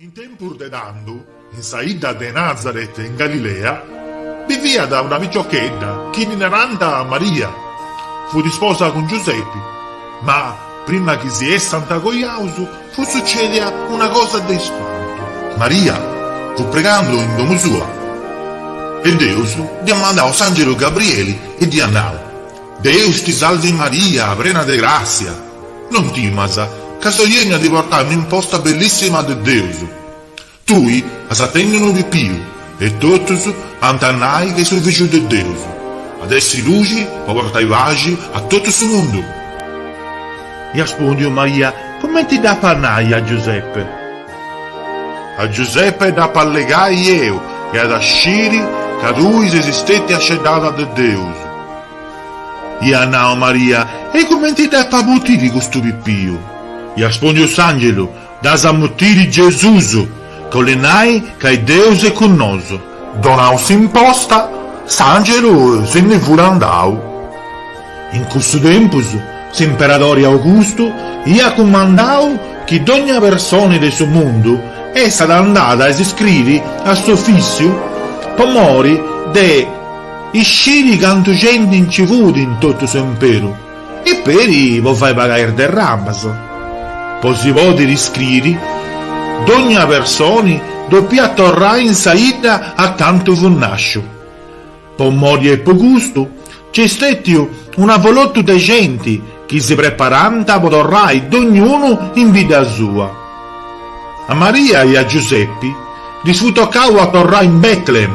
In tempus de tando, in sa 'idda de Nazaret in Galilea, biviat una piciochedda chi ddi narànt Maria. Fut isposa cun Giusepi. Ma, prima chi si essant cojaus, fut sucèdia una cosa de ispantu. Maria fut pregando in domu sua e Deus dd'iat mandau s'àngelu Gabrieli e dd'iat nau, Deus ti salvi Maria, prena de gràssia! Non timas, ca soi 'ènniu a ti portai un'imposta bellissima de Deus. Tui as a tenni unu pipiu, e totus ant a nai chi est su Fìgiu de Deus. At a essi luxi po portai paxi a totu su mundu. Iat aspùndiu Maria, Cumenti dd'apu a nai a Giuseppe? A Giuseppe dd'apu a allegai eu, e at a sciri ca tui ses stètia sceddada de Deus. Iat nau Maria, E cumenti dd'apu a mutiri custu pipiu? Iat aspùndiu s'angelu, Dd'as a mutiri Gesus, ca 'olit nai ca Deus est cun nosu. Donau s'imposta, s'angelu si ndi fut andau. In cussu tempus s'imperadori Augustu iat cumandau chi dogna personi de su mundu essat andada a s'iscriri a s'ofissiu po mori de. Isciri cantu genti nci fut in totu s'imperu e peri po fai pagai is derramas. Po si pòdiri iscriri, dogna personi dopiat torrai in sa 'idda acantu fut nasciu. Po mori e po custu, nc'est stetiu un'avolotu de genti chi si preparànt po torrai dognunu in bidda sua. A Maria e a Giusepi ddis fut tocau a torrai in Bètlehem.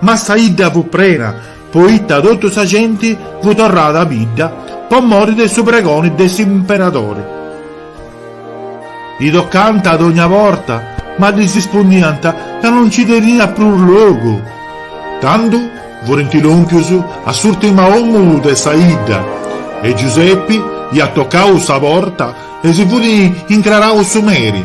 Ma sa 'idda fut prena, poita totu sa genti fut torrada a bidda po mori de su pregoni de s'imperadori. E tocànt dogna porta, ma ddis ispundiant ca no nci teniat prus logu. Tando furint lòmpius a s'ùrtima omu de sa 'idda e Giusepi iat tocau sa porta e si fut incrarau su meri.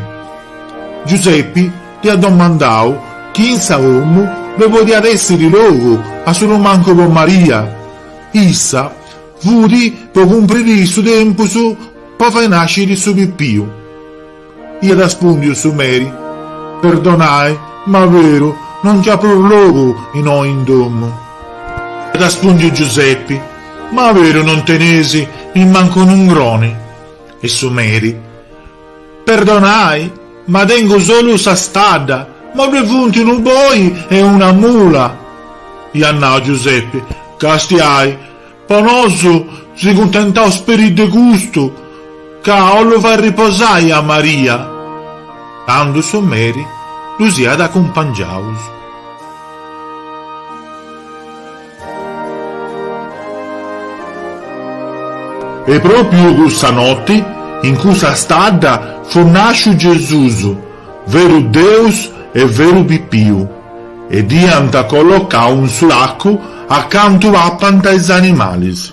Giusepi. Iat domandau chi in sa domu ddoi podiat èssiri logu a su mancu po Maria. Issa fut po cumpriri su tempus po fai nàsciri su pipiu. Iat aspùndiu su meri, Perdonai, ma veru, no nc'at prus logu innoi in domu. Iat aspùndiu Giusepi, Ma veru non tenis nimmancu un'ungroni? E su meri. Perdonai, ma tengu solu sa stadda, ma ddue funt unu boi e una mula. Iat nau Giuseppe, Castiai, po nosu si cuntentaus peri de custu, ca 'ollu fa' riposai a Maria. Tandu su meri ddus iat acumpangiaus. E pròpiu cussa noti, in cussa stadda, fut nàsciu Gesùs, veru Deus e veru pipiu, e dd'iant collocau in su lacu acanta papant is animalis.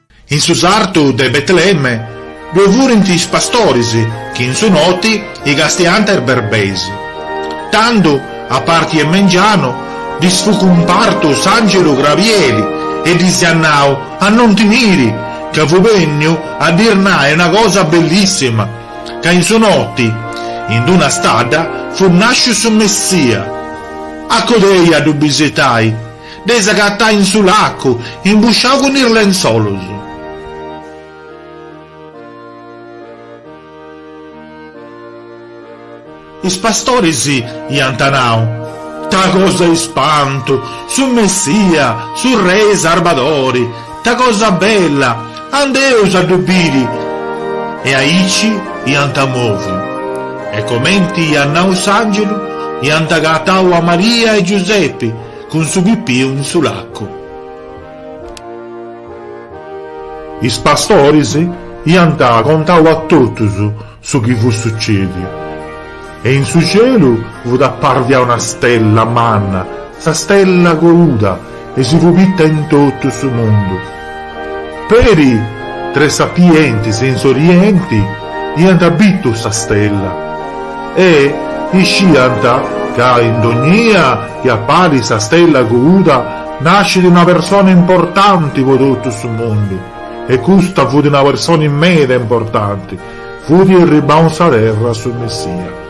In su sartu de Betlemme ddoe furint is pastoris chi in su noti castiant is berbeis. Tando, a parti 'e mengianu, ddis fut cumpartu s'àngelu Grabieli e ddis iat nau a non timiri, ca fut bènniu a ddis nai una cosa bellissima, ca in su noti, in d-una stadda, fut nàsciu su Messia. A codei a ddu bisitai. Dd'eis agatai in su lacu, imbusciau cun is lenzolos. Is pastoris iant nau, Ta cosa ispantu! Su Messia, su Rei Sarbadori! Ta cosa bella! Andeus a ddu biri! E aici iant moviu. E comenti iat nau s'angelu, iant agatau a Maria e Giusepi, Cun su pipiu in su lacu. Is pastoris iant contau a totus su chi fut sucediu, e in su cielu fut aparia una stella manna, sa stella coluda, e si fut bitta in totu su mundu. Peri tres sapientis in s'orienti iant bitu sa stella e isciant ca in dognia chi apparit sa stella coluda nascit una persona importanti po totu su mundu e custa fut una persona meda importanti, fut arribau in sa terra su Messia.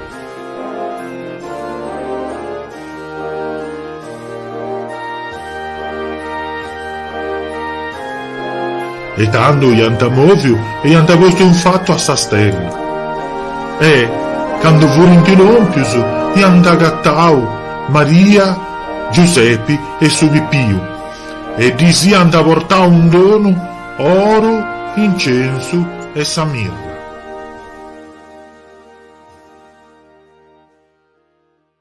E tando iant mòviu e iant postu in fatu a sa stella. E, cando furint lòmpius, iant agatau Maria, Giusepi e su pipiu e ddis iant portau in donu oru, incensu e sa mirra.